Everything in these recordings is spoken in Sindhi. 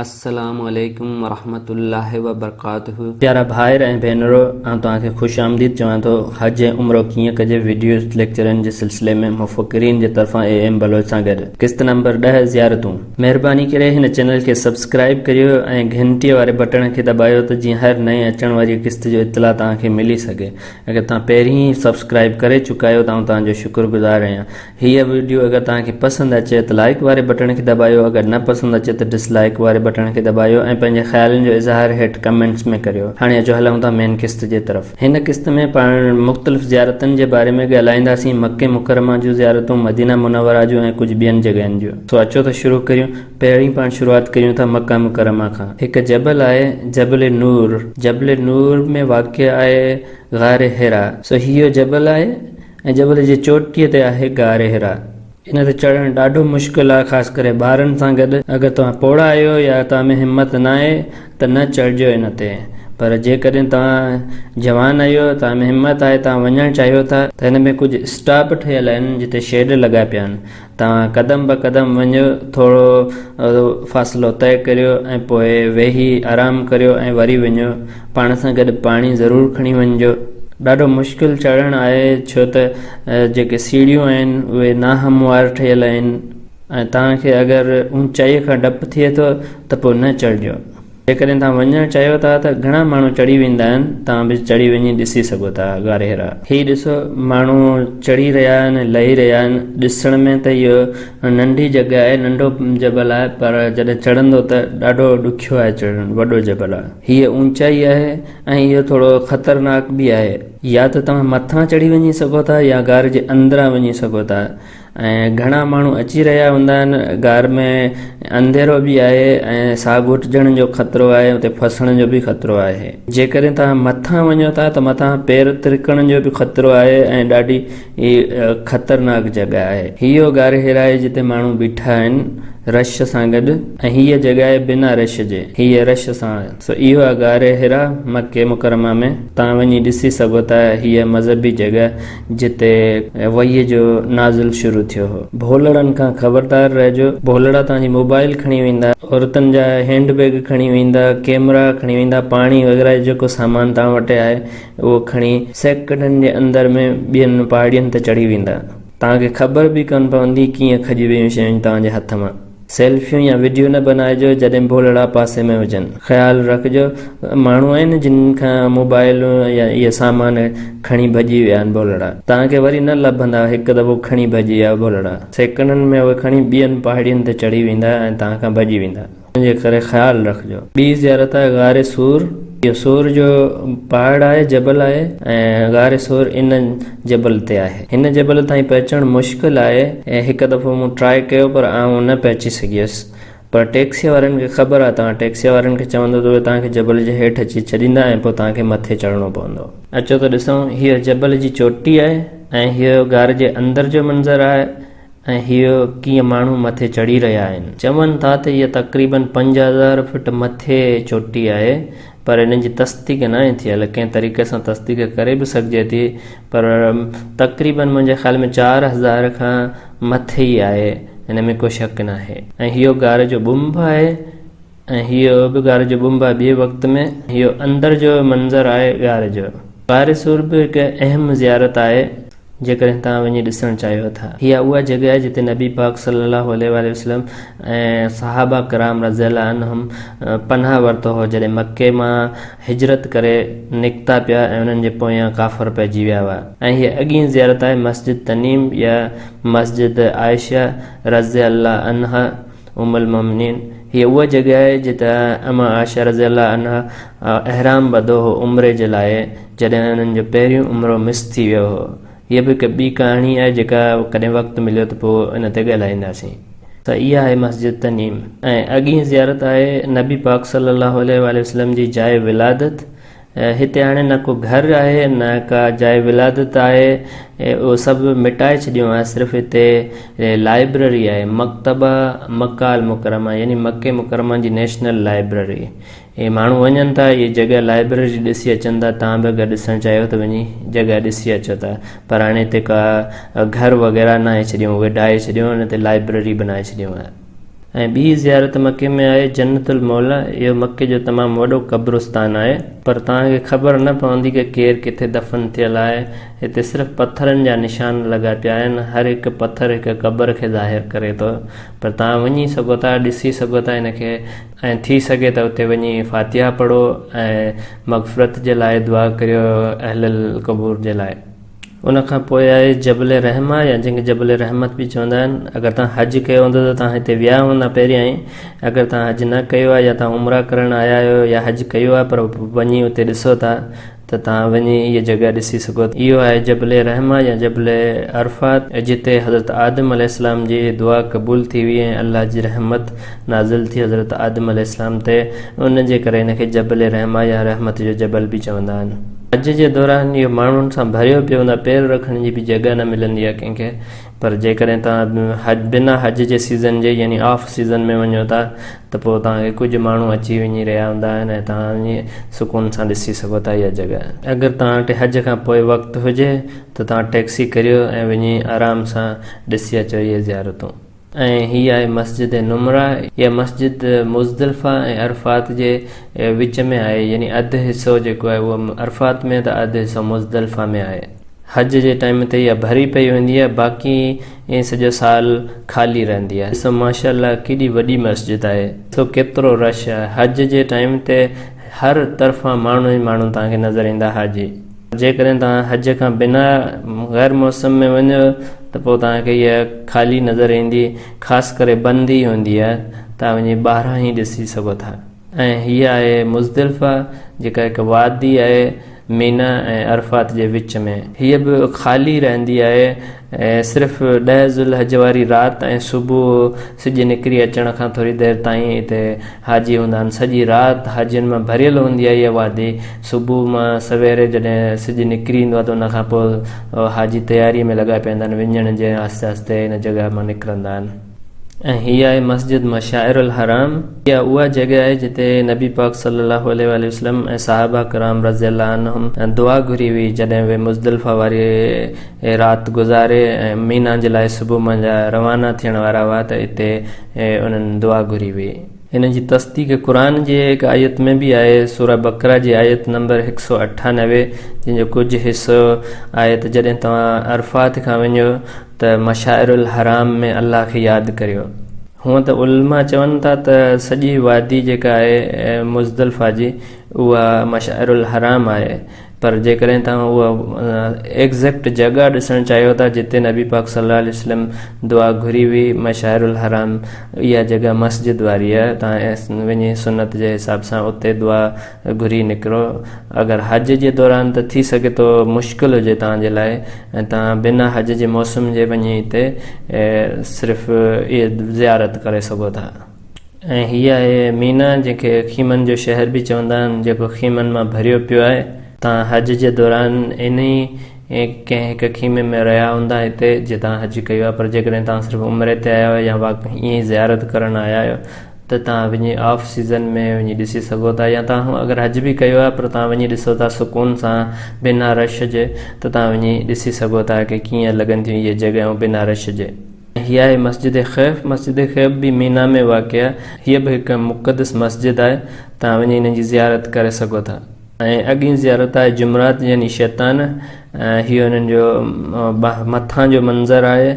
السلام عليڪم ورحمة الله وبرڪاته. پيارا ڀائر ۽ ڀينرو آئون توهان کي خوش آمديد چوان ٿو حج ۽ عمرو ڪيئن ڪجي وڊيو ليڪچرن جي سلسلي ۾ مفڪرين جي طرفان اي ايم بلوچ سان گڏ قسط نمبر ڏهه زيارتون. مهرباني ڪري هن چينل کي سبسڪرائب ڪريو ۽ گهنٽيء واري بٽڻ کي دٻايو ته جيئن هر نئين اچڻ واريء قسط جو اطلاع توهان کي ملي سگهي اگر توهان پهرين ئي سبسڪرائب ڪري چڪا آهيو ته آئون توهان جو شڪر گذار آهيان هيء وڊيو اگر توهان کي پسند اچي ته لائيڪ واري بٽڻ کي دٻايو اگر نه پسند اچي ته ڊس لائيڪ واري بٽڻ کي دٻايو ۽ پنهنجي خيالن جو اظهار هيٺ ڪمينٽس ۾ ڪريو هاڻي اچو هلون ٿا مين قسط جي طرف هن قسط ۾ پاڻ مختلف زيارتن جي باري ۾ ڳالهائينداسين مڪي مڪرمه جون زيارتون مدينه منوره جون ۽ ڪجهه ٻين جڳهين جون سو اچو ته شروع ڪريون پهرين پاڻ شروعات ڪريون ٿا مڪه مڪرمه کان هڪ جبل آهي جبل نور جبل نور ۾ واقع آهي غار حرا سو هيء جبل آهي ۽ جبل جي چوٽيء تي آهي غار حرا. ان تي چڙهڻ ڏاڍو مشڪل آهي خاص ڪري ٻارن سان گڏ. اگر توهان پوڙها آهيو يا توهان ۾ همت ناهي ته نه چڙهجو ان تي. پر جيڪڏهن توهان جوان آهيو، توهان ۾ همت آهي، توهان وڃڻ چاهيو ٿا ته هن ۾ ڪجهه اسٽاپ ٺهيل آهن جتي شيڊ لڳا پيا آهن. تان قدم به قدم وڃو، ٿورو فاصلو طئي ڪريو ۽ پوء ويهي آرام ڪريو ۽ وري وڃو. پاڻ سان گڏ پاڻي ضرور کڻي وڃجو. ڏاڍو مشڪل چڙهڻ آهي ڇو ته جيڪي سيڙهيون آهن اهي ناهموار ٺهيل آهن ۽ توهان کي اگر اونچائي کان ڊپ ٿئي ٿو ته پوء نه چڙهجو. جيڪڏهن توهان وڃڻ چاهيو ٿا ته گهڻا ماڻهو چڙهي ويندا آهن، توهان به چڙهي وڃي ڏسي سگهو ٿا. غارهيرا. هي ڏسو ماڻهو چڙهي رهيا آهن لهي رهيا آهن. ڏسڻ ۾ ته اهو ننڍي جڳهه آهي، ننڍو جبل آهي پر جڏهن چڙهندو ته ڏاڍو ڏکيو آهي چڙهڻ، وڏو جبل آهي. هيء اوچائي آهي ۽ اهو ٿورو خطرناڪ به آهي. يا ته توهان مٿان چڙهي وڃي سگهو ٿا يا غار جي اندران وڃي سگهو ٿا. ۽ گهڻا ماڻهو اچي رهيا هوندا آهن غار ۾ انڌيرو به آهي ۽ ساهه گهٽجڻ جو خطرو آهي اتي ڦسڻ جو به خطرو آهي جيڪڏهن توهان مٿان وڃو ٿا ته مٿان پير ترڪڻ جو به خطرو آهي ۽ ڏاڍي خطرناڪ جڳهه آهي هي اهو غار حرا آهي جتي ماڻهو بيٺا آهن رش سان گڏ ۽ هيء جڳهه آهي بنا رش جي هيء رش سان آهي سو اهو آهي غار حرا مڪي مڪرمه ۾ توهان وڃي ڏسي سگهو ٿا هيء مذهبي جڳهه جتي وهيء جو نازل شروع ٿيو هو. ڀولڙن کان خبردار رهجو. ڀولڙا توهان جي موبائيل کڻي ويندا. عورتن جا هينڊ بيگ کڻي ويندا، ڪيمرا کڻي ويندا، پاڻي وغيره جو جيڪو سامان توهان وٽ آهي اهو کڻي سيڪنڊن جي اندر ۾ ٻين پاڙين تي چڙهي ويندا. توهان کي خبر به ڪونه پوندي ڪيئن کڄي ويون شيون توهان جي هٿ مان. سيلفيون يا وڊيو نه بنائجو جڏهن ڀولڙا پاسي ۾ هجن. خيال رکجو ماڻهو آهن جن کان موبائلون يا اهي سامان کڻي ڀڄي ويا آهن ڀولڙا توهان کي وري نه لڀندا هڪ دفعو کڻي ڀڄي ويا ڀولڙا سيڪنڊن ۾ اهي کڻي ٻين پهاڙين تي چڙهي ويندا ۽ توهان کان ڀڄي ويندا ان جي ڪري خيال رکجو. ٻي زيارت آهي غار ثور اهو ثور جو پهاڙ آهي جبل آهي ۽ غار ثور ان جبل تي آهي هن جبل تائين پهچڻ مشڪل آهي ۽ هڪ دفعو مون ٽراء ڪيو پر آئون نه پهچي سگهيس پر ٽيڪسيء وارن کي خبر آهي توهان ٽيڪسيء وارن کي چوندو ته اهي توهان کي جبل جي هيٺ اچي ڇڏيندا ۽ پوء توهان کي مٿي چڙهڻو پوندو. اچو ته ڏسون هيء جبل جي چوٽي آهي ۽ هيء غار جي اندر جو منظر آهي ۽ هيء ڪيئن ماڻهو مٿي چڙهي رهيا آهن چون ٿا ته هيء تقريبن پنج هزار فٽ مٿي چوٽي آهي پر انهن جي تصديق ناهي ٿيل، ڪنهن طريقي سان تصديق ڪري به سگهجي ٿي پر تقريبن منهنجي خيال ۾ چار هزار کان مٿي ئي آهي ان ۾ ڪو شڪ ناهي ۽ هيو غار جو ٻنڀ آهي ۽ هيو به غار جو ٻنڀ آهي ٻئي وقت ۾ هيو اندر جو منظر آهي غار جو. غار سور به هڪ اهم زيارت آهي. جيڪڏهن توهان وڃي ڏسڻ چاهيو ٿا. هيء اها جڳهه آهي جتي نبي پاڪ صلّي اللّٰه عليه واٰله وسلّم ۽ صحابه ڪرام رضي اللّٰه عنهم پناهه ورتو هو جڏهن مڪي مان هجرت ڪري نڪتا پيا ۽ انهن جي پويان ڪافر پئجي ويا هئا. ۽ هيء اڳين زيارت آهي مسجد تنعيم يا مسجد عائشه رضي اللّٰه عنها ام المؤمنين هيء اها جڳهه آهي جتي امّ عائشه رضي اللّٰه عنها احرام ٻڌو هو عمري جي لاء، جڏهن انهن جو پهريون عمرو مس ٿي ويو هو. هيء به هڪ ٻي ڪهاڻي آهي جيڪا ڪڏهن وقت مليو ته پوء ان تي ڳالهائينداسين. سا اها آهي مسجد تنعيم ۽ اڳينهن زيارت آهي نبي پاڪ صلي الله عليه واٰله وسلم جي جاء ولادت. هتي هاڻي نه ڪو گهر آهي نه ڪا جاء ولادت آهي اهو سڀ مٽائي ڇڏيو آهي صرف هتي لائبرري آهي مڪتبه مڪه المڪرمه يعني مڪه مڪرمه جي نيشنل لائبرري. اهي ماڻهو وڃن ٿا اهي جڳهه لائبرري جي ڏسي اچن ٿا تهان به اگر ڏسڻ چاهيو ته وڃي جڳهه ڏسي اچو ٿا پر هاڻي هتي ڪا گهر وغيره ناهي ڇڏيون اهي ڊاهي ڇڏيون ان تي لائبرري بنائي ڇڏيون آهي ۽ ٻي زيارت مڪي ۾ آهي جنت الموليٰ اهو مڪي جو تمام وڏو قبرستان آهي پر توهان کي خبر نه پوندي ته ڪير ڪٿي دفن ٿيل آهي هتي صرف پٿرن جا نشان لڳا پيا آهن هر هڪ پٿر هڪ قبر کي ظاهر ڪري ٿو پر توهان وڃي سگهو ٿا ڏسي سگهو ٿا ان کي ۽ ٿي سگهي ته اتي وڃي فاتحه پڙهو ۽ مغفرت جي لاء دعا ڪريو اهل القبور جي لاء. ان کان پوء آهي جبل رحمه يا جنهن کي جبل رحمت به چوندا آهن. اگر توهان حج ڪيو هوندو ته توهان هتي ويا هوندا پهريائين. اگر توهان حج نه ڪيو آهي يا توهان عمره ڪرڻ آيا آهيو يا حج ڪيو آهي پر وڃي اتي ڏسو ٿا ته توهان وڃي هيء جڳهه ڏسي سگهو ٿا. اهو آهي جبل رحمه يا جبل عرفات، جتي حضرت آدم عليه السلام جي دعا قبول ٿي هئي ۽ الله جي رحمت نازل ٿي حضرت آدم عليه السلام تي، ان جي ڪري هن کي جبل رحمه يا رحمت جو جبل به چوندا آهن. حج جي دوران اهو ماڻهن سان ڀريو پيو هوندو آهي، پير رکڻ جي به جڳهه نه ملندي آهي ڪنهن کي. پر جيڪڏهن توهان حج بنا حج جي سيزن جي يعني آف سيزن ۾ وڃو ٿا ته پوء توهان کي ڪجهه ماڻهو اچي وڃي رهيا هوندا آهن ۽ توهان وڃي سڪون سان ڏسي سگهو ٿا اها جڳهه. اگر توهان وٽ حج کان پوء وقت هجي ته توهان ٽيڪسي ڪريو ۽ وڃي آرام سان ڏسي اچو اهي زيارتون. ۽ هي آهي مسجد نمره. اها مسجد مزدلفه ۽ عرفات جي وچ ۾ آهي يعني اڌ حصو جيڪو آهي اهو عرفات ۾ ته اڌ حصو مزدلفه ۾ آهي. حج جي ٽائيم تي اها ڀري پئي هوندي آهي باقي ائين سڄو سال خالي رهندي آهي ڏسو ماشاءالله ڪيڏي وڏي مسجد آهي ڏسو ڪيترو رش آهي حج جي ٽائيم تي هر طرفان ماڻهو ئي ماڻهو توهان کي نظر ايندا حاجي جيڪڏهن توهان حج کان بنا غير موسم ۾ وڃو ته پوء توهان کي اها خالي نظر ايندي خاص ڪري بند ئي هوندي آهي توهان وڃي ٻاهران ئي ڏسي سگهو ٿا. ۽ هيء آهي مزدلفه جيڪا هڪ وادي آهي مينا ۽ عرفات جي وچ ۾. هيء به خالي رهندي آهي ۽ صرف ڏهه ذوالحج واري رات ۽ صبح سج نڪري اچڻ کان ٿوري دير تائين اتي حاجي هوندا آهن. سڄي رات حاجين مان ڀريل هوندي آهي هيء وادي. صبح مان سويري جڏهن سج نڪري ايندو آهي ته ان کان پوء حاجي تياريء ۾ لڳا پيندا آهن وڃڻ جي ۽ آهستي آهستي ان جڳهه مان نڪرندا آهن. ۽ هي آهي مسجد مشاعر الحرام، اها اها جڳهه آهي جتي نبي پاڪ صلي الله عليه واٰله وسلم ۽ صحابه ڪرام رضي الله عنهم دعا گهري هئي جڏهن اهي مزدلفه واري رات گذاري ۽ مينا جي لاء صبح منجهه روانا ٿيڻ وارا هئا ته اتي انهن دعا گهري هئي. ان جي تصديق قرآن جي هڪ آيت ۾ به آهي، سوره بقره جي آيت نمبر هڪ سؤ اٺانوي جنهن جو ڪجهه حصو آهي ته جڏهن توهان عرفات کان وڃو ته مشاعر الحرام ۾ الله کي ياد ڪريو. هونئن ته علماء چون ٿا ته سڄي وادي جيڪا آهي مزدلفه جي اها مشاعر الحرام آهي پر جيڪڏهن توهان اها ايگزيڪٽ جڳهه ڏسڻ چاهيو ٿا جتي نبي پاڪ صلي الله عليه وسلم دعا گهري هئي مشاعر الحرام اها جڳهه مسجد واري آهي توهان وڃي سنت جي حساب سان اتي دعا گهري نڪرو اگر حج جي دوران ته ٿي سگهي ٿو مشڪل هجي توهان جي لاء ۽ توهان بنا حج جي موسم جي وڃي هتي صرف اهي زيارت ڪري سگهو ٿا ۽ هي آهي مينا جنهن کي خيمن جو شهر به چوندا آهن جيڪو خيمن مان ڀريو پيو آهي توهان حج جي دوران انهي ڪنهن هڪ خيمي ۾ رهيا هوندا هتي جي توهان حج ڪيو آهي پر جيڪڏهن توهان صرف عمري تي آيا آهيو يا واقعي ائين ئي زيارت ڪرڻ آيا آهيو ته تهان وڃي آف سيزن ۾ وڃي ڏسي سگهو ٿا يا تهان اگر حج به ڪيو آهي پر تهان وڃي ڏسو ٿا سڪون سان بنا رش جي ته تهان وڃي ڏسي سگهو ٿا ڪي ڪيئن لڳن ٿيون اهي جڳهيون بنا رش جي. هي آهي مسجد خيف، مسجد خيف به مينا ۾ واقع آهي، هيء به هڪ مقدس مسجد آهي، تهان وڃي هن جي زيارت ڪري سگهو ٿا. ۽ اڳين زيارت آهي جمرات يعني شيطان، هيء انهن جو مٿان جو منظر آهي،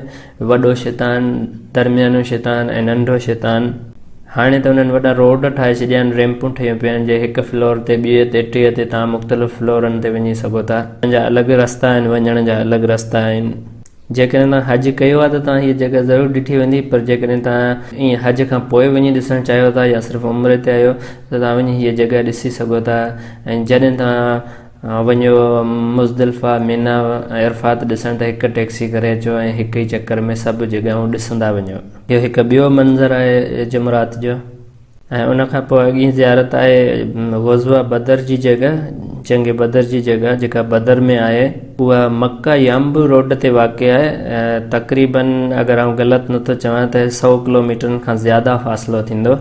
وڏو شيطان، درميانو شيطان ۽ ننڍو شيطان. هاڻي ته انهن وڏا روڊ ٺاهي ڇڏيا آهن، ريمپون ٺهيون پيون آهن، جي هڪ فلور تي، ٻئي تي، ٽئي تي توهان مختلف فلورن تي وڃي سگهو ٿا. انهن جا الڳ رستا آهن، وڃڻ جا الڳ رستا آهن. جيڪڏهن توهان حج ڪيو آهي ته توهان هيء جڳهه ضرور ڏٺي ويندي، پر جيڪڏهن توهان ائين حج کان پوء وڃي ڏسڻ چاهيو ٿا يا صرف عمري تي آهيو ته توهان وڃي هيء جڳهه ڏسي سگهو ٿا ۽ جڏهن توهان وڃو مزدلفه، منيٰ ۽ عرفات ڏسڻ ته هڪ ٽئڪسي ڪري اچو ۽ هڪ ئي چڪر ۾ سڀ جڳهون ڏسندا وڃو. اهو هڪ ٻيو منظر آهي جمعرات جو ۽ ان کان پوء اڳين زيارت آهي غزوه بدر جي جڳهه، جنگ بدر جي جڳهه جيڪا بدر ۾ آهي. اها مڪه يانبو روڊ تي واقع آهي ۽ تقريباً اگر آئون غلط نه ٿو چوان ته سؤ ڪلوميٽرن کان زياده فاصلو ٿيندو.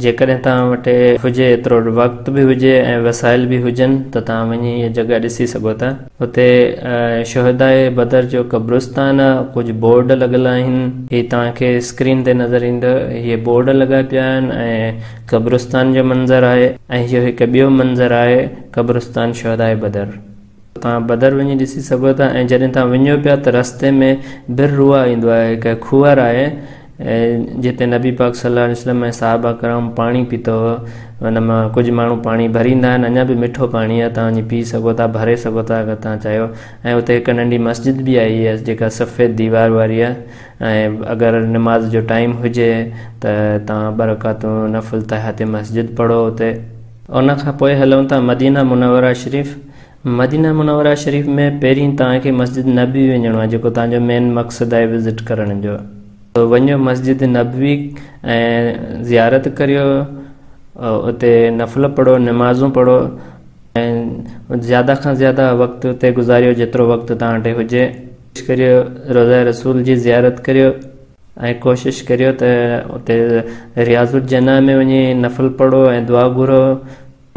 جيڪڏهن توهان وٽ هجي ايترو وقت به هجي ۽ وسائل به هجن ته توهان وڃي هيء جڳهه ڏسي سگهو ٿا. هتي شهداء بدر جو قبرستان آهي، ڪجهه بورڊ لڳل آهن، هي توهان کي اسڪرين تي نظر ايندو، هي بورڊ لڳا پيا آهن ۽ قبرستان جو منظر آهي ۽ اهو هڪ ٻيو منظر آهي قبرستان شهداء بدر. توهان بدر وڃي ڏسي سگهو ٿا ۽ جڏهن توهان وڃو پيا ته رستي ۾ بر روا ايندو آهي هڪ کوهر آهي جتي نبي پاڪ صلي الله عليه وسلم ۽ صحابه ڪرام پاڻي پيتو هو ان مان ڪجهه ماڻهو پاڻي ڀريندا آهن اڃا به مٺو پاڻي آهي توهان وڃي پي سگهو ٿا ڀري سگهو ٿا اگر توهان چاهيو ۽ اتي هڪ ننڍي مسجد به آهي جيڪا سفيد ديوار واري آهي ۽ اگر نماز جو ٽائيم هجي ته توهان ٻه رڪعتون نفل تحيات مسجد پڙهو اتي ان کان پوء هلون ٿا مدينه منوره شريف مدينه منوره شريف ۾ پهرين توهان کي مسجد نبوي وڃڻو آهي جيڪو توهان جو مين مقصد آهي وزٽ ڪرڻ جو سو وڃو مسجد نبوي ۽ زيارت ڪريو اتي نفل پڙهو نمازون پڙهو ۽ زياده کان زياده وقت اتي گذاريو جيترو وقت توهان وٽ هجي ڪوشش ڪريو روضه رسول جي زيارت ڪريو ۽ ڪوشش ڪريو ته اتي رياض الجنه ۾ وڃي نفل پڙهو ۽ دعا گهرو.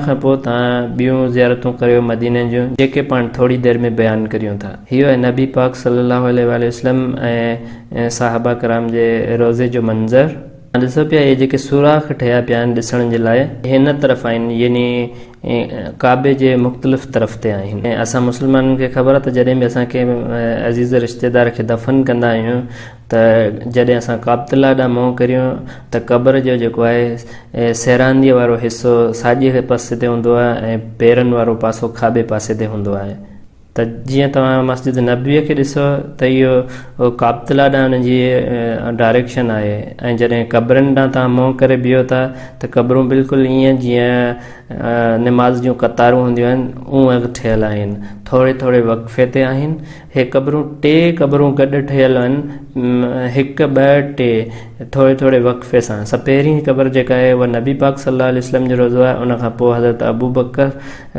کان پوء توهان ٻيون زيارتون ڪريو مديني جون جيڪي پاڻ ٿوري دير ۾ بيان ڪريون ٿا. هيء نبي پاڪ صلّي اللّٰه عليه واٰله وسلّم ۽ صحابه ڪرام جي روضي جو منظر توهان ڏسو پيا اهي جيڪي سوراخ ٺهيا پيا آهن ڏسڻ جي لاء اهي هن طرف آهن يعني ڪعبي جي مختلف طرف تي آهن ۽ اسان مسلمانن کي خبر آهي ته جڏهن به اسان ڪنهن عزيز رشتيدار کي دفن ڪندا آهيون ته جڏهن اسان ڪابتالله ڏانهن منهن ڪريون ته قبر جو جيڪو آهي سيرانديء وارو حصو ساڄي پاسي تي هوندو آهي ۽ پيرن وارو پاسو کاٻي پاسي تي هوندو آهي ته جيئن توهان مسجد نبويء کي ڏسو ته اهو ڪابتالله ڏانهن ان جي ڊائريڪشن آهي ۽ جڏهن قبرن ڏانهن توهان منهن ڪري بيهو ٿا ته قبرون بلڪل ائين جيئن نماز جون قطارون هونديون آهن اونهن ٺهيل آهن ٿوري ٿوري وقفي تي آهن هي قبرون ٽي قبرون گڏ ٺهيل هن، هڪ، ٻه، ٽي، ٿوري ٿوري وقفي سان. سا پهرين قبر جيڪا آهي اها نبي پاڪ صلي الله عليه وسلم جو روضو آهي ان کان پوء حضرت ابوبڪر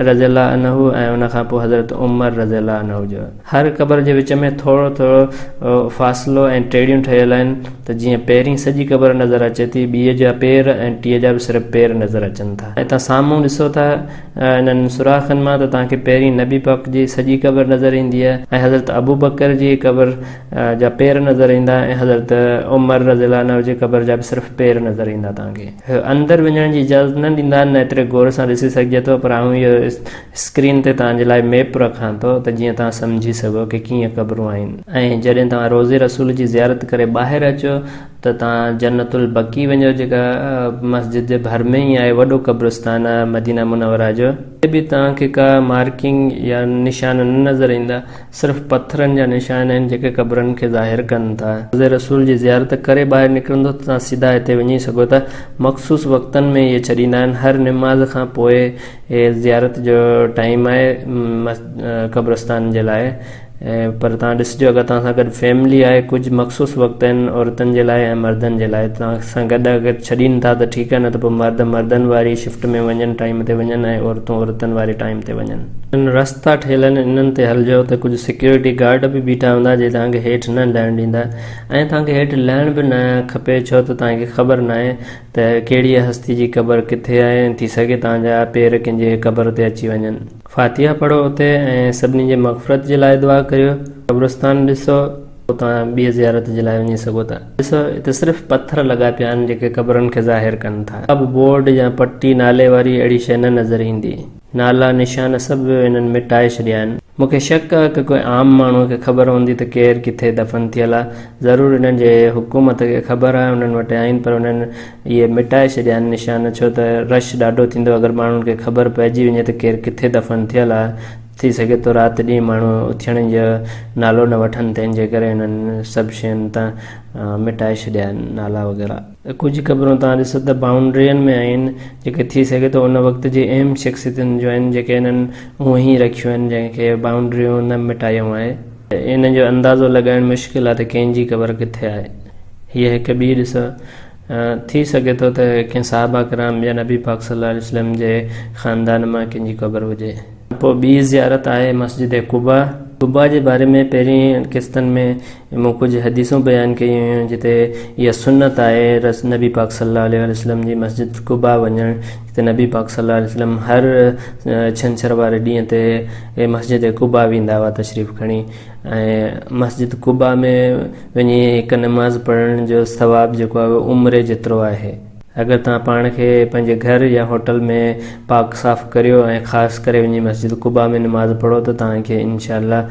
رضي الله عنه ۽ ان کان پوء حضرت عمر رضي الله عنه جو. هر قبر جي وچ ۾ ٿورو ٿورو فاصلو ۽ ٽيڙيون ٺهيل آهن ته جيئن پهرين سڄي قبر نظر اچي ٿي ٻيء جا پير ۽ ٽيء جا به صرف پير نظر اچن ٿا. اتان سامهون ڏسو ٿا. انهن سوراخن مان ته توهان کي پهرين نبي پاڪ جي سڄي قبر نظر اينديء ۽ حضرت ابوبڪر جي قبر جا پير نظر ايندا ۽ حضرت عمر رضي الله عنه جي قبر جا به صرف پير نظر ايندا توهان کي اندر وڃڻ جي اجازت نه ڏيندا نه ايتري غور سان ڏسي سگهجي ٿو پر آئون اهو اسڪرين تي توهان جي لاء ميپ رکان ٿو ته جيئن توهان سمجهي سگهو ڪي ڪيئن قبرون آهن ۽ جڏهن توهان روضي رسول جي زيارت ڪري ٻاهر اچو ته تان جنت البقيع وڃو جيڪا مسجد جي ڀر ۾ ئي آهي وڏو قبرستان آهي مدينه منوره جو اتي به توهان کي ڪا مارڪنگ يا نشان نه نظر ايندا صرف پٿرن جا نشان آهن جيڪي قبرن کي ظاهر ڪن ٿا. روضه رسول جي زيارت ڪري ٻاهر نڪرندو ته توهان سيڌا هتي وڃي سگهو ٿا مخصوص وقتن ۾ اهي ڇڏيندا آهن هر نماز کان پوء اهي زيارت جو ٽائيم آهي قبرستان جي لاء پر تهان ڏسجو اگر تهان سان گڏ فيملي آهي ڪجهه مخصوص وقت آهن عورتن جي لاء ۽ مردن جي لاء تهان سان گڏ اگر ڇڏين ٿا ته ٺيڪ آهي نه ته پوء مرد مردن واري شفٽ ۾ وڃن ٽائيم تي وڃن ۽ عورتون عورتن واري ٽائيم تي وڃن. انهن رستا ٺهيل آهن انهن تي هلجو ته ڪجهه سيڪيورٽي گارڊ به بيٺا هوندا جي تهان کي هيٺ نه لهڻ ڏيندا ۽ تهان کي هيٺ لهڻ به نه کپي ڇو ته تهان کي خبر ناهي ته ڪهڙيء هستي جي قبر ڪٿي آهي ٿي سگهي تهان جا پير ڪنهن جي قبر تي اچي وڃن. فاتحه پڙهو اتي ۽ سڀني جي مغفرت جي لاء دعا ڪريو. قبرستان ڏسو پوء توهان ٻيء زيارت جي لاء وڃي سگهو ٿا. ڏسو اتي صرف پٿر لڳا پيا آهن جيڪي قبرن کي ظاهر ڪن ٿا. ڪا به بورڊ يا پٽي نالي واري اهڙي شيء نه نظر ايندي. نالا نشان سڀ انهن مٽائي ڇڏيا آهن. مون کي شڪ آهي ته ڪنهن عام ماڻهوء کي خبر هوندي ته ڪير ڪٿي دفن ٿيل آهي. ضرور انهن جي حڪومت کي خبر آهي، انهن وٽ آهن پر انهن اهي مٽائي ڇڏيا آهن نشان ڇو ته رش ڏاڍو ٿيندو اگر ماڻهن کي خبر پئجي وڃي ته ڪير ڪٿي دفن ٿيل آهي ٿي سگهي ٿو رات ڏينهن ماڻهو اٿيڻ جو نالو نه وٺن تنهن جي ڪري هنن سڀ شين تان مٽائي ڇڏيا آهن نالا وغيره. ڪجهه قبرون توهان ڏسو ته بائونڊرين ۾ آهن جيڪي ٿي سگهي ٿو ان وقت جي اهم شخصيتن جون آهن جيڪي هنن اونهي رکيون آهن جنهن کي بائونڊريون نه مٽايون آهي. ان جو اندازو لڳائڻ مشڪل آهي ته ڪنهن جي قبر ڪٿي آهي. هيء هڪ ٻي ڏس آهي. ٿي سگهي ٿو ته ڪنهن صحابه ڪرام يا نبي پاڪ صلّي اللّٰه عليه وسلّم جي خاندان مان ڪنهن جي قبر هجي. پوء ٻي زيارت آهي مسجد قباء. قباء جي باري ۾ پهرين قسطن ۾ مون ڪجهه حديثون بيان ڪيون هيون جتي اها سنّت آهي رس نبي پاڪ صلّي اللّٰه عليه وسلّم جي مسجد قباء وڃڻ جتي نبي پاڪ صلّي اللّٰه عليه وسلّم هر ڇنڇر واري ڏينهن تي اهي مسجد قباء ويندا هئا تشريف کڻي ۽ مسجد قباء ۾ وڃي هڪ نماز پڙهڻ جو ثواب جيڪو آهي اهو عمري جيترو آهي. اگر توهان پاڻ کي پنهنجي گهر يا هوٽل ۾ پاڪ صاف ڪريو ۽ خاص ڪري وڃي مسجد قباء ۾ نماز پڙهو ته توهان کي ان شاء الله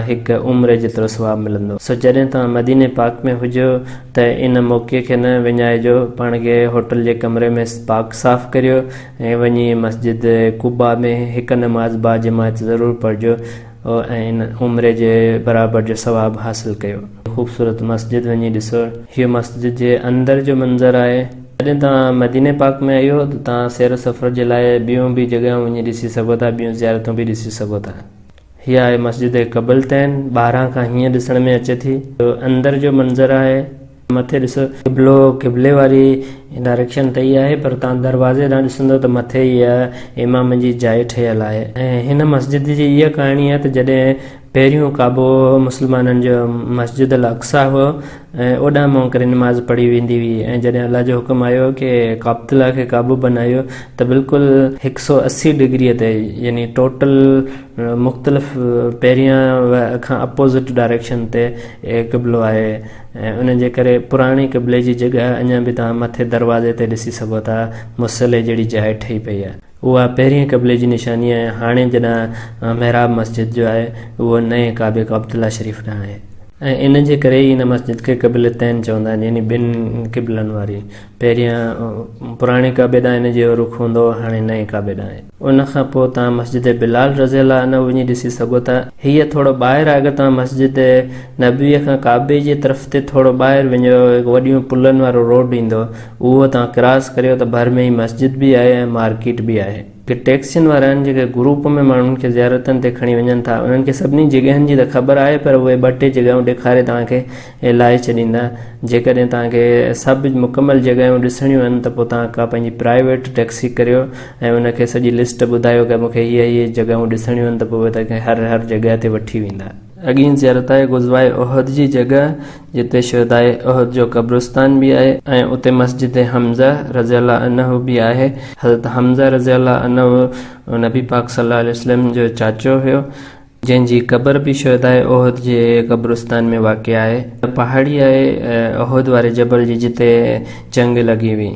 هڪ عمري جيترو ثواب ملندو. سو جڏهن توهان مديني پاڪ ۾ هجو ته ان موقعي کي نه وڃائجو پاڻ کي هوٽل جي ڪمري ۾ پاڪ صاف ڪريو ۽ وڃي مسجد قباء ۾ هڪ نماز باجماعت ضرور پڙهجو ۽ ان عمري جي برابر جو ثواب حاصل ڪيو. خوبصورت مسجد وڃي ڏسو. هيء مسجد جي اندر جو منظر آهي. جڏهن توهان مديني پاڪ ۾ ايو ته توهان سير و سفر جي لاء ٻيون به جڳهيون وڃي ڏسي سگهو ٿا، ٻيون زيارتون به ڏسي سگهو ٿا. هيء آهي مسجد قبلتين، ٻاهران کان هيئن ڏسڻ ۾ اچي ٿي. جو اندر جو منظر آهي. مٿي ڏس قبلو قبلي واري ڊائريڪشن تي ئي آهي پر تان دروازي ڏانهن ڏسندو ته مٿي ئي امام جي جاء ٺهيل آهي ۽ هن مسجد جي اها ڪهاڻي آهي ته جڏهن پهريون ڪعبو مسلمانن جو مسجد الاقصيٰ هو ۽ اوڏانهن منهن ڪري نماز پڙهي ويندي هئي ۽ جڏهن الله جو حڪم آيو ڪي قابط الله کي ڪعبو بنايو ته بلڪل هڪ سؤ اسي ڊگري تي يعني ٽوٽل مختلف پهريان کان اپوزٽ ڊائريڪشن تي قبلو آهي ۽ ان جي ڪري پراڻي قبلي جي جڳهه اڃا به توهان مٿي دروازي تي ڏسي سگهو ٿا مصلي جهڙي جاء ٺهي پئي آهي اها پهرين قبلي جي نشاني آهي ۽ هاڻي جڏهن محراب مسجد جو آهي اهو نئين ڪعبي قبطله شريف ڏانهن آهي. ۽ ان جي ڪري ئي ان مسجد کي قبلتين چوندا آهن يعني ٻن قبلن واري پهريان پراڻي ڪعبي ڏانهن ان جو رخ هوندو هو هاڻي نئين ڪعبي ڏانهن آهي. ان کان پوء توهان مسجد بلال رضي الله عنه وڃي ڏسي سگهو ٿا. هيء ٿورو ٻاهر آهي اگر توهان مسجد نبويء کان ڪعبي جي طرف تي ٿورو ٻاهر وڃو هڪ وڏيون پلن وارو روڊ ايندو اهو توهان ڪراس ڪريو ته ڀر ۾ ئي مسجد به آهي ۽ مارڪيٽ به آهي. هي ٽيڪسين وارا آهن جيڪي گروپ ۾ ماڻهن کي زيارتن تي کڻي وڃن ٿا انهن کي سڀني جڳهين جي ته خبر آهي پر اهي ٻه ٽي جڳهيون ڏيکاري توهان کي لاهي ڇڏيندا جيڪڏهن توهان کي سڀ مڪمل جڳهيون ڏسڻيون آهن ته پوء توهان ڪا پنهنجي پرائيويٽ ٽئڪسي ڪريو ۽ ان کي سڄي لسٽ ٻڌايو ڪه مونکي هي هي جڳهيون ڏسڻيون آهن ته پوء اهي توهان کي هر هر جڳهه تي وٺي ويندا. اڳين زيارت آهي غزوه احد جي جڳهه جتي شهداء احد جو قبرستان به آهي ۽ اتي مسجد حمزه رضي الله عنه به آهي حضرت حمزه رضي الله عنه نبي پاڪ صلي الله عليه وسلم جو چاچو هيو جنهن جي قبر به شهداء احد جي قبرستان ۾ واقع آهي. پهاڙيء احد واري جبل جي جتي جنگ لڳي هئي.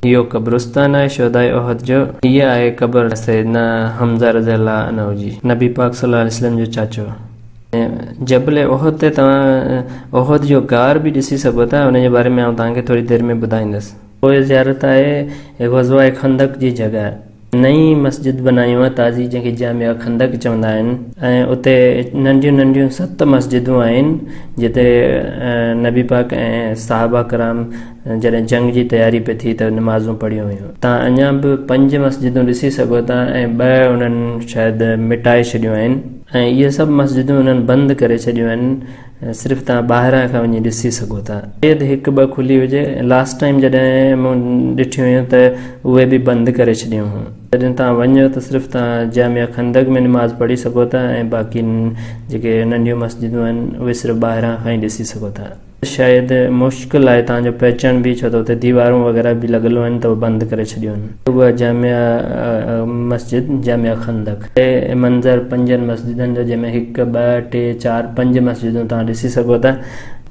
اهو قبرستان آهي شهداء احد جو. هيء آهي قبر سيدنا حمزه رضي الله عنه جي. نبي پاڪ صلي الله عليه وسلم جو چاچو. جبل احد تي توهان احد جو غار به ڏسي سگهو ٿا. ان جي باري ۾ آئون توهان کي ٿوري دير ۾ ٻڌائيندس. پوء زيارت آهي غزوه خندق جي جڳهه. نئين مسجد بنايون آهي تازي جنهن کي جامع خندق چوندا آهن ۽ اتي ننڍيون ننڍيون ست مسجدون آهن جتي نبي پاڪ ۽ صحابه ڪرام جڏهن جنگ جي تياري پئي ٿي ته نمازون پڙهيون هيون تان اڃان به پنج مسجدون ڏسي سگهو ٿا ۽ ٻه انهن شايد مٽائي ڇڏيون آهن ۽ اهي سڀ مسجدون انهن بند ڪري ڇڏيون آهن صرف توهان ٻاهران کان وڃي ڏسي سگهو ٿا. شايد هڪ ٻه کلي هجي. لاسٽ ٽائيم جڏهن مون ڏٺيون هيون ته اهي به بند ڪري ڇڏيون هيون. جڏهن توهان وڃو ته صرف توهان جامع خندق ۾ نماز پڙهي سگهو ٿا ۽ باقي جيڪي ننڍيون مسجدون آهن اهي صرف ٻاهران کان ئي ڏسي سگهو ٿا. شايد مشڪل آهي توهان جو پهچڻ به ڇو ته اتي ديوارون وغيره به لڳل هيون ته اهي بند ڪري ڇڏيون هيون. اها جامع مسجد جامع خندق. هي منظر پنجن مسجدن جو جنهن ۾ هڪ، ٻه، ٽي، چار، پنج مسجدون توهان ڏسي سگهو ٿا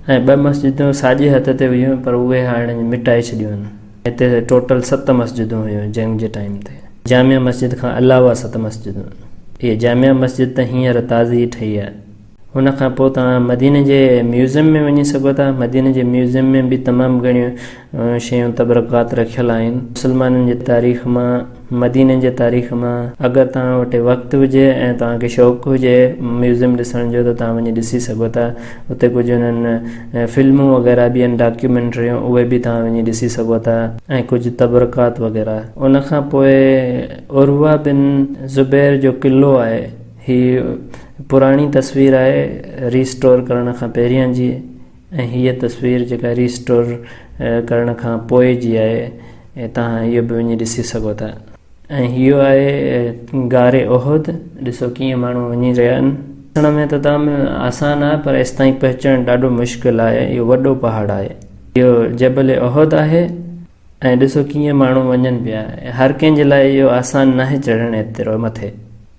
۽ ٻه مسجدون ساڄي هٿ تي هيون پر اهي هاڻي مٽائي ڇڏيون آهن. هتي ٽوٽل ست مسجدون هيون جنگ جي ٽائيم تي. جامع مسجد کان علاوه ست مسجدون. هيء جامع مسجد ته هينئر تازي ئي ٺهي آهي. ان کان پوء توهان مديني جي ميوزيم ۾ وڃي سگهو ٿا. مديني جي ميوزيم ۾ به تمام گهڻيون شيون تبرڪات رکيل آهن. مسلمانن جي تاريخ مان، مديني جي تاريخ مان. اگر توهان وٽ وقت هجي ۽ توهان کي شوق هجي ميوزيم ڏسڻ جو ته توهان وڃي ڏسي سگهو ٿا. اتي ڪجهه انهن فلمون وغيره به آهن ڊاڪيومينٽريون اهي به توهان وڃي ڏسي سگهو ٿا ۽ ڪجهه تبرڪات وغيره. ان کان پوء عروه بن زبير جو قلعو آهي. هي پراڻي تصوير آهي ري اسٽور ڪرڻ کان پهريان جي ۽ هيء تصوير جيڪا ري اسٽور ڪرڻ کان پوء جي آهي ۽ توهان اهو به وڃي ڏسي سگهو ٿا ۽ هيو آهي غار احد ڏسو ڪيئن ماڻهو وڃي رهيا آهن ڏسڻ ۾ ته تام آسان آهي پر ايستائين پهچڻ ڏاڍو مشڪل آهي اهو وڏو پهاڙ آهي اهو جبل احد آهي. ۽ ڏسو ڪيئن ماڻهو وڃن پيا. هر ڪنهن جي لاء اهو آسان ناهي چڙهڻ ايترو مٿي.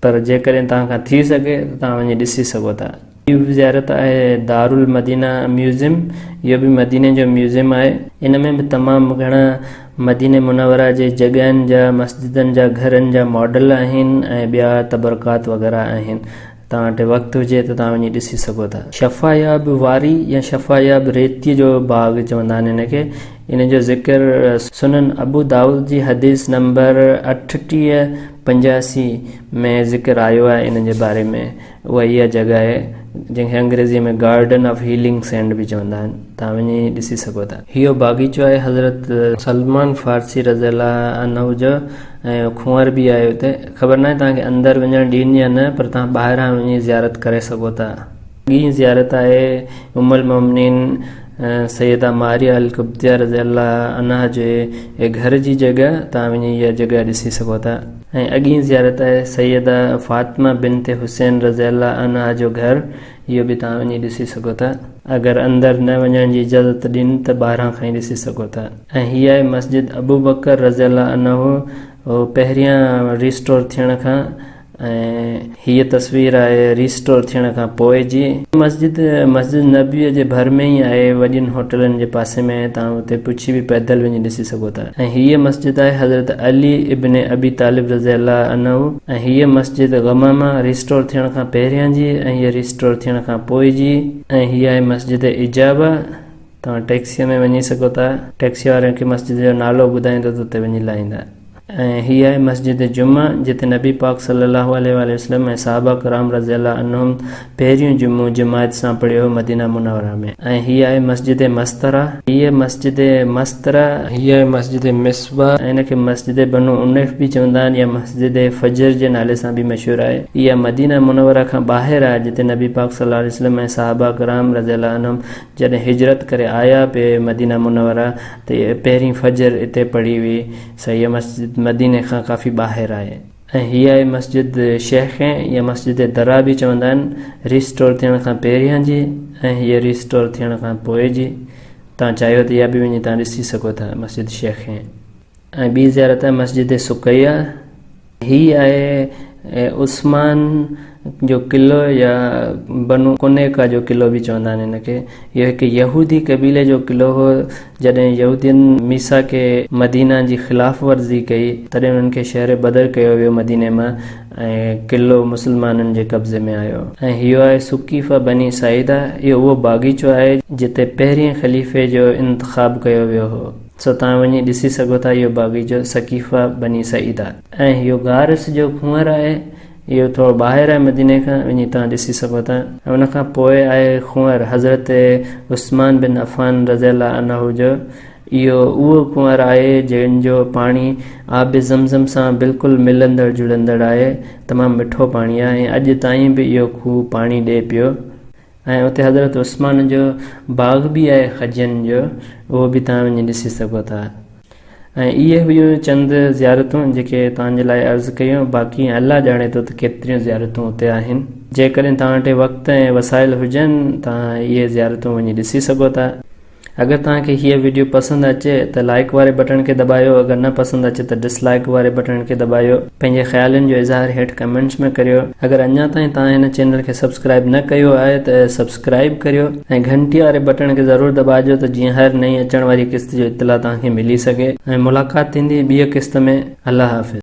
پر جيڪڏهن توهان کان ٿي سگهي ته توهان وڃي ڏسي سگهو ٿا. ٻي به زيارت آهي دارالمدينه ميوزيم. اهو به مديني جو ميوزيم آهي. ان ۾ به تمام گهڻا مديني منوره جي جڳهن جا، مسجدن جا، گهرن جا ماڊل آهن ۽ ٻيا تبرڪات وغيره آهن. توهان وٽ وقت هجي ته توهان وڃي ڏسي سگهو ٿا. شفاياب واري يا شفاياب ريتيء جو باغ چوندا آهن هن کي. ان جو ذڪر سنن ابو دائود جي حديث نمبر اٺٽيهه پنجاسي ۾ ذڪر آيو آهي ان جي باري ۾ اها اها جڳهه آهي جنهن کي انگريزيء ۾ گارڊن آف هيلنگ سينڊ به چوندا آهن توهان وڃي ڏسي سگهو ٿا. هيء باغيچو آهي حضرت سلمان فارسي رضي الله عنه جو ۽ کنوار به آهي اتي. خبر ناهي توهان کي اندر وڃڻ ڏين يا نه پر توهان ٻاهران وڃي زيارت ڪري سگهو ٿا. اڳين زيارت آهي ام المومنين سيده ماريه القبطيه رضي الله عنها جي گهر جي جڳهه، توهان وڃي اها جڳهه ڏسي سگهو ٿا. ۽ اڳين زيارت آهي سيده فاطمه بنت حسين رضي الله عنها جو گهر، اهو به توهان وڃي ڏسي سگهو ٿا. اگر اندر نه وڃڻ جي اجازت ڏين ته ٻاهران کان ئي ڏسي سگهو ٿا. ۽ هي آهي مسجد ابوبڪر رضي الله عنه پهريان ريسٽور ٿيڻ کان ۽ هيء تصوير آهي ريسٽور ٿيڻ کان پوء جي. مسجد مسجد نبويء جي ڀر ۾ ئي آهي، وڏين هوٽلن جي پاسي ۾ آهي، توهان اتي پڇي به پيدل وڃي ڏسي سگهو ٿا. ۽ هيء مسجد آهي حضرت علي ابن ابي طالب رضي الله عنه ۽ هيء مسجد غمامه ريسٽور ٿيڻ کان پهريان جي ۽ هيء ريسٽور ٿيڻ کان پوء جي ۽ هيء آهي مسجد اجابه، توهان ٽيڪسيء ۾ وڃي سگهو ٿا. ٽيڪسيء واري کي مسجد جو نالو ٻڌائيندو ته اتي وڃي لاهيندا. ۽ هي آهي مسجد جمعه جتي نبي پاڪ صلّي الله عليه واٰله وسلّم ۽ صحابه ڪرام رضي الله عنهم پهريون جمعو جماعت سان پڙهيو هو مدينه منوره ۾. ۽ هي آهي مسجد مستره. هي آهي مسجد مستره. هي آهي مسجد مصباح ۽ ان کي مسجد بنو عنيف به چوندا آهن يا مسجد فجر جي نالي سان به مشهور آهي. اها مدينه منوره کان ٻاهر آهي جتي نبي پاڪ صلّي الله عليه وسلّم ۽ صحابه ڪرام رضي الله عنهم جڏهن هجرت ڪري آيا پي مدينه منوره تي پهرين فجر اتي پڙهي وئي سهي مسجد مديني کان ڪافي ٻاهر آهي ۽ هيء ئي مسجد شيخين يا مسجد درا به چوندا آهن ري اسٽور ٿيڻ کان پهريان جي ۽ هيء ري اسٽور ٿيڻ کان پوء جي تان چاهيو ته اها به وڃي تان ڏسي سگهو ٿا مسجد شيخين. ۽ ٻي زيارت آهي مسجد سقيه هي آهي عثمان جو قلعو يا بنو قنيقه جو قلعو به چوندا آهن هن کي اهو هڪ يهودي قبيلي جو قلعو هو جڏهن يهودين ميثاق مدينه جي خلاف ورزي ڪئي تڏهن انهن کي شهر بدر ڪيو ويو مديني مان ۽ قلعو مسلمانن جي قبضي ۾ آيو ۽ هيو آهي سقيفه بني ساعده اهو اهو باغيچو آهي جتي پهرين خليفي جو انتخاب ڪيو ويو هو. سو توهان وڃي ڏسي سگهو ٿا اهو باغيچو سقيفه بني سعيده ۽ اهو غار اس جو کنوئر آهي اهو ٿورو ٻاهر آهي مديني کان وڃي توهان ڏسي سگهو ٿا ۽ ان کان پوء آهي کنوئر حضرت عثمان بن عفان رضي الله عنه جو اهو اهو کنوئر آهي جنهن جو پاڻي آب زمزم سان بلڪل ملندڙ جڙندڙ آهي تمام مٺو پاڻي آهي ۽ اڄ تائين به اهو کوهه پاڻي ڏئي پيو ۽ اتي حضرت عثمان جو باغ به آهي خجين جو اهو به توهان وڃي ڏسي سگهو ٿا ۽ اهي هيون چند زيارتون جيڪي توهان جي لاء عرض ڪيون باقي الله ڄاڻي ٿو ته ڪيتريون زيارتون اتي آهن جيڪڏهن توهان وٽ وقت ۽ وسائل هجن توهان اهي زيارتون وڃي ڏسي سگهو ٿا. اگر توهان کي هيء وڊيو پسند اچي ته لائيڪ واري بٽڻ کي دٻايو اگر نه پسند اچي ته ڊس لائيڪ واري بٽڻ کي دٻايو پنهنجي خيالن جو اظهار هيٺ ڪمينٽس ۾ ڪريو اگر اڃا تائين توهان هن چينل کي سبسڪرائيب نه ڪيو آهي ته سبسڪرائيب ڪريو ۽ گهنٽي واري بٽڻ کي ضرور دٻاجو ته جيئن هر نئين اچڻ واري قسط جو اطلاع توهان کي ملي سگهي ۽ ملاقات ٿيندي ٻيء قسط ۾ الله حافظ.